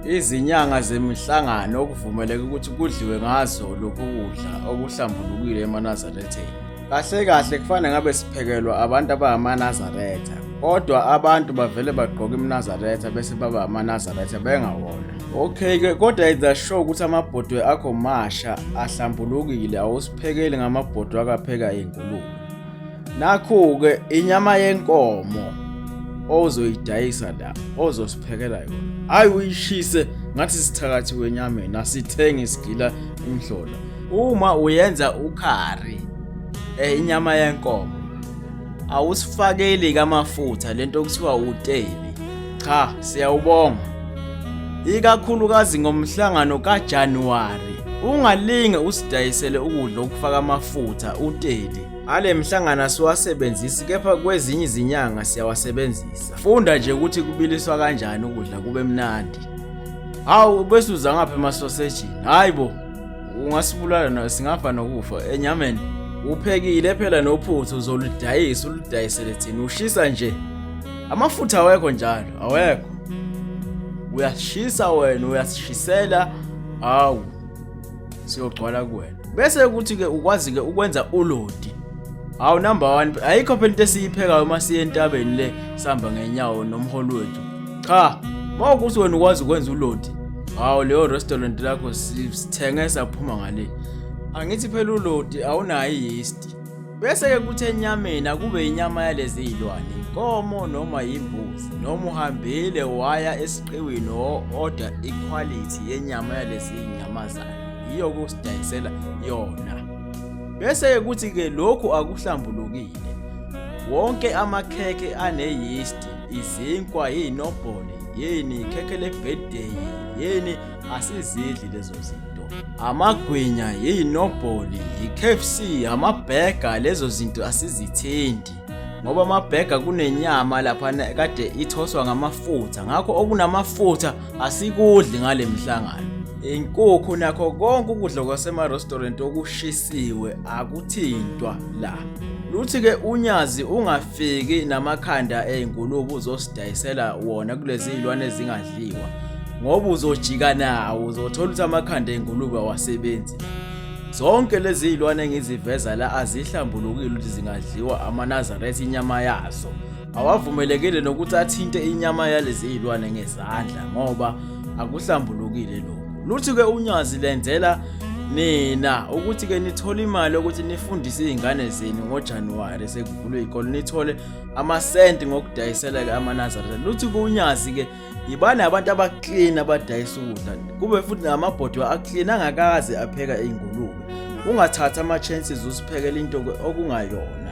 Izinyanga zemihlangano okuvumeleke ukuthi kudliwe ngazo lokhu kudla okuhlambulukile emanazaretheni. Kahle kahle kufanele ngabe siphekelwa abantu abangamaNazaretha, kodwa abantu bavele bagqoke imnazaretha bese baba amanazaretha bengawona. Okay ke kodwa either show ukuthi amabhodwe akho masha ahlambulukile awusiphekeli ngamabhodwe akapheka ingulube. Nakhu-ke inyama yenkomo ozoyidayisa la ozosiphekela yona hhayi uyishise ngathi sithakathi wenyameni asithenge isigila imhlola uma uyenza ukhari eh, inyama yenkomo awusifakeli kamafutha lento okuthiwa uteli cha siyawubonga ikakhulukazi ngomhlangano kaJanuwari ungalinge usidayisele ukudla okufaka amafutha uteli Ale mhlangano asiwasebenzisi kepha kwezinye izinyanga siyawasebenzisa. Funda nje ukuthi kubiliswa kanjani ukudla kube mnandi. Hawu bese uza ngapha emasosejini. Hayi bo. Ungasibulala na singafa nokufa enyameni. Uphekile phela nophuthu uzoludayisa uludayisele thina ushisa nje. Amafutha awekho njalo, awekho. Uyashisa wena, uyasishisela. Hawu. siyogcwala kuwena bese kuthi ke ukwazi ke ukwenza ulodi hawu number 1 ayikho phela into esiyiphekayo uma siye entabeni le sihamba ngenyawo nomholi wethu cha mawukuthi wena ukwazi ukwenza ulodi hawu leyo restaurant lakho sithenge saphuma ngale angithi phela ulodi awunayo yeast Bese-ke kuthi enyameni akube inyama yalezi zilwane inkomo noma yimbuzi noma uhambile waya esiqiwini o-oda ikhwalithi yenyama yalezi zinyamazane yiyo kusidayisela yona bese-ke kuthi-ke lokhu akuhlambulukile wonke amakhekhe aneyisti izinkwa yinobhole yini ikhekhe lebirthday yini asizidli lezo zinto amagwinya yiyinobholi yi-kfc amabhega lezo zinto asizithindi ngoba amabhega kunenyama lapha kade ithoswa ngamafutha ngakho okunamafutha asikudli ngale mhlangano inkukhu nakho konke ukudla kwasema-restaurant okushisiwe akuthintwa la luthi-ke unyazi unga fiki namakhanda ey'ngulube uzosidayisela wona kulezi iy'lwane ezingadliwa ngoba uzojika nawo uzothola ukuthi amakhanda ey'ngulube awasebenzi zonke lezi iy'lwane engiziveza la azihlambulukile ukuthi zingadliwa amanazaretha inyama yazo awavumelekile nokuthi athinte inyama yalezi iy'lwane ngezandla ngoba akuhlambulukile lokhu luthi-ke unyazi lenzela nina ukuthi-ke nithole imali ukuthi nifundise iy'ngane zenu ngojanuwari kuvulwe ikolo nithole amasenti ngokudayisela-ke amanazareth luthi kunyazi-ke yibani abantu abaklini abadayisa ukudla kube futhi namabhodi aklini angakaze apheka iy'ngulube ungathathi ama-chances usiphekela into okungayona